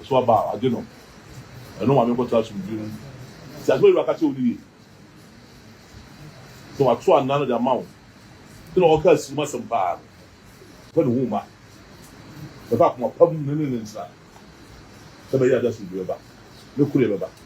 Ɔso aba a, ɔgye no. Ɛno ma menkɔtra asomdwoe mu. Tie asɛm a Awurade ka kyerɛ wo no yie. Sɛ wɔato anaa no de ama wo sɛ na ɔreka asirim asɛm pa ara no, fa ne ho mma. Fa koma pa mu ne no ntena, sɛ ɛbɛyɛ a ɛde asomdwoe bɛba ne koreɛ bɛba.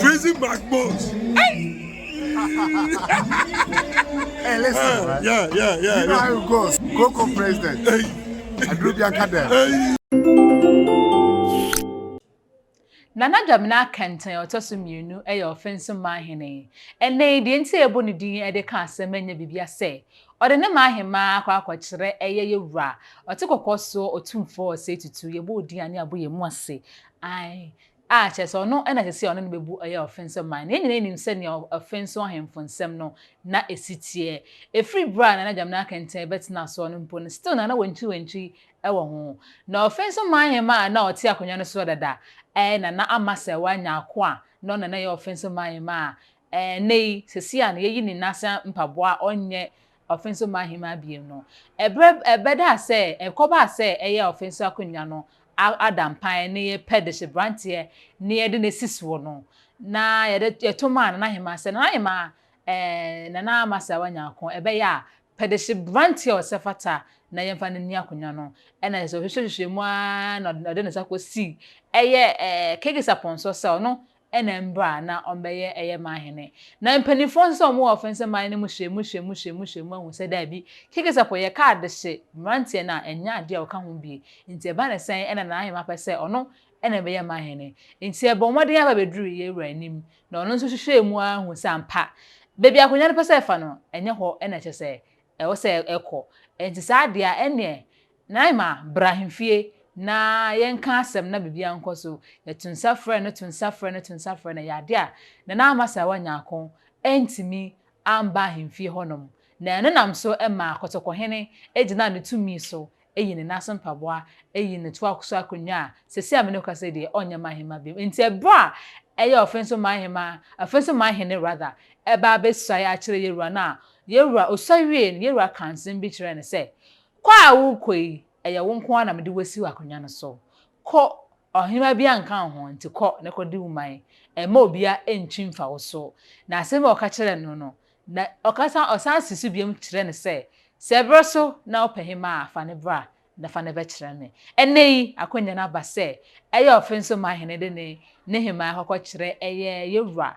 Prison backbones. hey, listen. Uh, right? Yeah, yeah, yeah. You know yeah. how it goes. Coco president. Hey. Adrubia Kadem. Hey. Nana Dwamena Kɛntɛn ɔtɔ so mmienu yɛ ɔfenso maahene. Ɛnna yi deɛ nti a ɛbɔ ne din de ka asɛm anya bibia sɛ ɔde ne maahema akɔ akɔkyerɛ ɛyɛ yɛ wura ɔte kɔkɔɔ soɔ ɔtumfoɔ ɔsɛ tutu yɛbɔ odin ane abo yɛ mu ase ae A, kyerɛ sɛ ɔno na ɛsɛ sɛ ɔne no bebu ɔyɛ ɔfenso man. Na yɛn nyinaa nim sɛnea ɔfenso ahemfo nsɛm no na esi teɛ. Efiri bere a Nana Gyamina Kenteng bɛtenaa soɔ no mpo no, still na na wantwiwantwi wɔ ho. Na ɔfenso man hemmaa a na ɔte akonnwa no soɔ dada ɛɛ na na ama sɛ wanya ako a, na ɔno na na ɛyɛ ɔfenso man hemmaa. Ɛɛ, nnɛ yi, seesei a na yɛayi ne nan ase mpaboa a ɔnyɛ Ɔfe so mma ahemaa abien no. Ɛberɛ ɛbɛdaa sɛ ɛkɔbaa sɛ ɛyɛ a ɔfe so akonnwa no ada mpan ne yɛ pɛ de hye branteɛ ne yɛ de no asi soɔ no, na yɛde yɛto maa Nana Ahemaa sɛ, Nana Ahemaa, ɛɛ Nana Amasaawa Nyarko, ɛbɛyɛ a, pɛ de hye branteɛ a ɔsɛ fata na yɛmfa no nni akonnwa no. Ɛna kyerɛ sɛ ɔhwehwɛhwehwɛɛ mu ara na ɔde ne nsa kɔsii ɛyɛ ɛɛ Kegis Apɔnsɔ sɛ ɔno na mbra a na ɔmbɛyɛ ɛyɛ man hene. Na mpanyinfoɔ nso a ɔmo wɔ fɛnsɛ man no mu hwɛ mu hwɛ mu hwɛ mu hwɛ mu ahu sɛ daabi, Kekesɛpo yɛ ka adehye mmeranteɛ no a ɛnyɛ adeɛ a ɔka ho bie. Nti ɛba ne sɛn ɛna Nanahemaa pɛ sɛ ɔno ɛna ɛbɛyɛ man hene. Nti ɛbɔɔ mmɔden ara bɛduruu yɛn wura anim na ɔno nso hwehwɛɛ mu ara hu sɛ ampa baabi a akonwa no pɛ sɛ ɛfa no ɛnyɛ hɔ na ɛkyɛ sɛ ɛwɔ sɛ ɛkɔ. Nti saa adeɛ a ɛneɛ Naima, bra ahemfie na yɛnka asɛm na biribiara nkɔ so. Yɛto nsa frɛɛ no, to nsa frɛɛ no, to nsa frɛɛ no, ɛyɛ ade a na na Amasaawa Nyarko antumi amba ahemfie hɔnom, na ɛno nam so maa Kɔtɔkɔhene gyinaa ne tumi so yii ne nan ase mpaboa yii no toaa so akonnwa a seesei a me ne wo kasa yi deɛ ɔnyɛ man hemma bio. Enti ɛberɛ a ɛyɛ ɔfe nso man hemma, ɔfe nso man hene rather, ɛba abɛsuae akyerɛ Yawura no a, Yawura, ɔsuae wiee no, Yawura kaa nsɛm bi kyerɛɛ no sɛ, Kɔ a worekɔ yi, ɛyɛ wo nko ara na mede wo asi w'akonnwa no so. Kɔ! Ɔhenemma biara nka wo ho, enti kɔ na kɔdi wo man. Mma obiara nntwi mfa wo so. Na asɛm bi a ɔka kyerɛɛ no no, na ɔka san, ɔsan si so biom kyerɛ no sɛ, Sɛ bere so na wopɛ hemmaa a, fa no bra na fa no bɛkyerɛ me. Ɛnnɛ yi, akwannya no aba sɛ ɛyɛ ɔfe nso ma hene de ne ne hemmaa kɔkɔkyerɛ ɛyɛ yɛn wura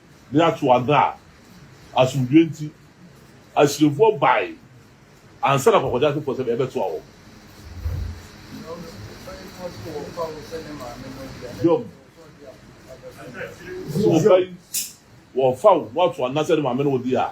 Ne atoadan a asomdwoe nti Asirimfoɔ bae ansa na Kɔkɔdzeasefoɔ sɛdeɛ ɛbɛtoa wɔn. Biom, sɛ ɔba yi wɔfa wo na watoa no na sɛ ne maame no wɔ di a.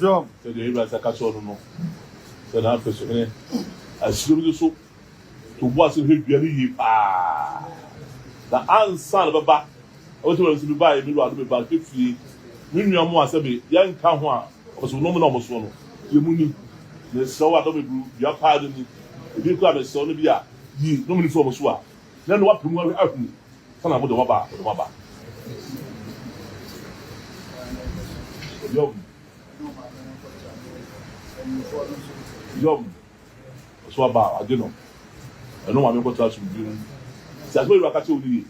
Hiob. Sɛdeɛ Ebeneser ka kyerɛɛ no no, sɛ na afei so hene Asiriahene no so to bo ase hwɛ dua no yie pa ara. Na ansa na ɛbɛba, ɔbɛte wura no se, Mebaeɛ, me wura, na meba hwɛ fie. Me nua mmoa a sɛ me yɛnka ho a, wɔpɛ sɛ wɔnom na wɔsoɔ no, yɛ mu ni. Mesrɛ wo a, dɔ me boro dua pa ara no ni. Ebi koraa a mesrɛ wo no bi a, yi, nom no firi wɔn so a. Hɛn no wɔapamu ara ahu kwan a wɔdɔ wɔaba a wɔdɔ wɔaba. Yom. Yom. Ɔso aba a ɔagye no. Ɛno ma menkɔtra asomdwie mu. Tse asɛm a Ewura ka kyerɛ wo no yie.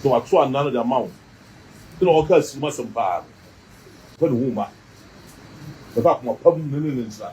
Sɛ Ɔato anan no dze ama wo, dɛ na Ɔrekaa sir mu asɛm paa no, fa No ho ma. Bɛfa akoma pa mu ne Ne nsa.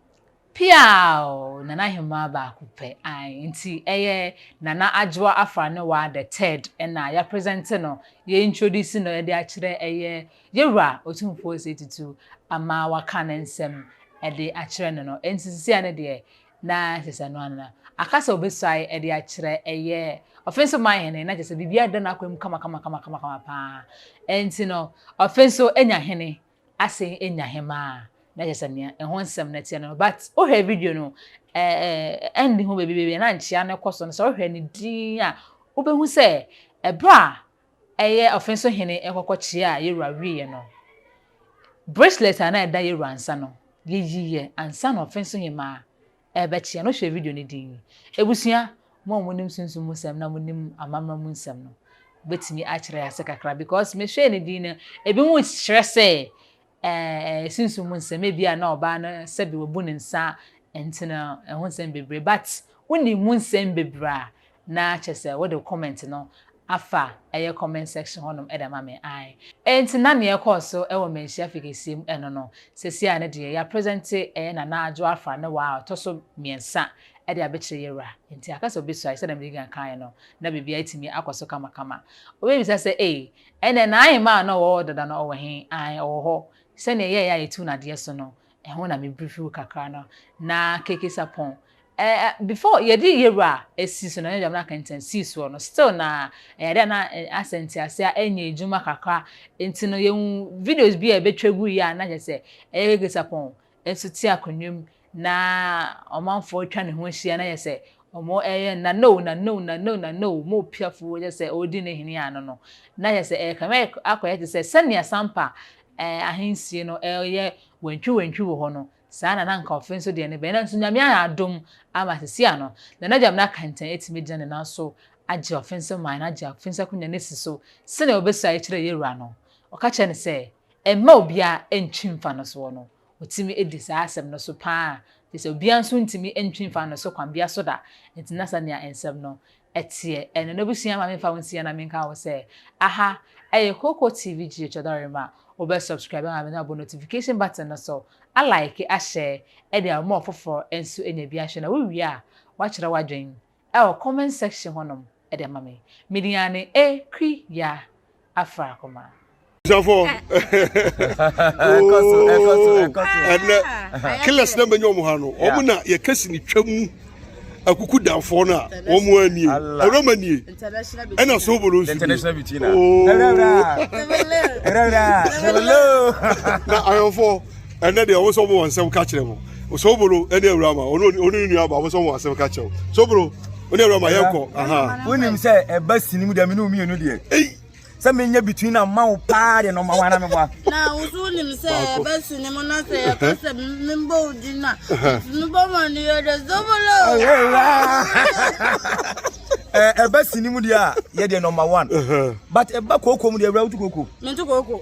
Piaaww Nana Hemaa baako pɛ ae nti ɛyɛ Nana Adwoa Afranewaa the third na yɛ presente no yɛ introduce no de akyerɛ ɛyɛ Yɛwura Otumfoɔ Osei Tutu ama waka ne nsɛm de akyerɛ no no nti sisia no deɛ na kyɛ sɛ ɛno ara aka sɛ ɔbɛsuae de akyerɛ ɛyɛ Ɔfe nso man hene na kyɛ sɛ biribiara da n'akwan mu kama kama kama kama kama paa nti no Ɔfe nso anya hene asen enya hɛmba a, na kyerɛ sɛ nea ɛho nsɛm no tse no. But wohwɛ video no, end ho beebi beebi a na nkyea no kɔ so no, sɛ wohwɛ no dinn a, wobehu sɛ ber a ɛyɛ ɔfen so hene nkɔkɔkyea a Yewura wieeɛ no, bracelet a na ɛda Yewura nsa no, yeyii yɛ ansa na ɔfen so hemmaa Ɛrebɛkyeɛ no, hwɛ video no din. Abusua, mo a monim sunsum mu nsɛm na monim amammerɛ mu nsɛm no, mobɛtumi akyerɛ yɛn ase kakra? Because mehwɛɛ ne din no, ebi mu kyerɛ sɛ ɛɛ sunsum mu nsɛm, ebi a na ɔbaa no sɛbi wabu ne nsa nti no ɛho nsɛm bebree, but wonim mu nsɛm bebree a, Na kyesɛ wode wo comment no afa ɛyɛ comment section hɔ nom de ama me ae. Enti na neɛ ɛkɔɔ so wɔ Manhyia Fi Kɛseɛ mu ɛno no, sɛsi a ne deɛ ya presente ɛyɛ Nana Adwo Afra ne wa a ɔtɔ so mmiɛnsa de abekyerɛ yɛwura. Enti aka sɛ obesua sɛdeɛ mede di kan kaeɛ no na biribiara atumi akɔ so kama kama. Wobɛbisa sɛ ei, ɛnneɛ na ahemaa a na ɔwɔ hɔ dada no ɔwɔ he? Ae, ɔwɔ hɔ. Sɛdeɛ yɛɛyɛ a yɛtu no adeɛ so no, Ɛho na me briefly kakra no na KK Sarpong eh before yɛde yɛwura asi so na ne dɛm na kɛntɛn sii soɔ no still na ɛyɛ adeɛ a na asɛ ntease a ɛnyɛ adwuma kakra nti no yɛhu videos bi a ɛbɛtwa gu yɛ a na kyɛ sɛ ɛyɛ KK Sarpong nso te akonnwa mu na ɔmanfoɔ atwa ne ho ahyia na yɛ sɛ ɔmo ɛyɛ na no na no na no na no mo piafoɔ kyɛ sɛ ɔredi ne hene ano no na kyɛ sɛ ɛyɛ kame akɔyɛ te sɛ sɛnea Sampa ahensie no yɛ wantwiwantwi wɔ hɔ no, saa na na anka ɔfe nso deɛ ne bɛn. Nanso Nyame ayɛ adom ama sesia no, na n'agya Mena Kɛntɛn atumi agyina ne nan so agye ɔfe nso man no agye ɔfe nso akonya no asi so senea ɔbɛsuaeɛ kyerɛɛ yɛwura no. Ɔka kyerɛɛ no sɛ, Mma obiara ntwi mfa no soɔ no. Otumi di saa asɛm no so paa a, kyerɛ sɛ obiara nso ntumi ntwe mfa no so kwan biara so da. Enti na sɛnea nsɛm no teɛ ɛno. N'abusua ma memfa wo nsie na menka wo sɛ, aha ɛyɛ Koko TV Geo Kyɛdɔrem a wobɛ subscribe ama me na wabɔ notification button no so, a like, a share de ama ɔfoforɔ nso anya bi ahwɛ na wowie a, woakyerɛ w'adwene Ɛwɔ comment section hɔ nom ɛde ama me. Midiane e kwi ya afra akoma. Jafo ɛnɛ killers na menya ɔmo ha no ɔmo na yɛ kɛse ne twa mu akuku danfoɔ no a ɔmo ani ɛwura ma nie ɛna so bolo nsu na ayɔnfoɔ ɛnɛ deɛ wɔn nso wɔn nsɛm ka kyerɛ mo sobolo ɛne awura ma ɔno ɔno ne nua ba wɔn nso wɔn asɛm ka kyerɛ mo sobolo ɔne awura ma yɛn kɔ. wonim sɛ ɛba sini mu deɛ me ne wo mmienu deɛ sɛ menyɛ between na ma wo paa deɛ na ɔma wana meboa na wo so wonim sɛ ɛba sini mu na sɛ yɛka sɛ membɔ wo di no a mebɔ ma no yɛ dɛ sobolo ɛba sini mu deɛ a yɛdeɛ nɔma one but ɛba kooko mu deɛ awura woto kooko mento kooko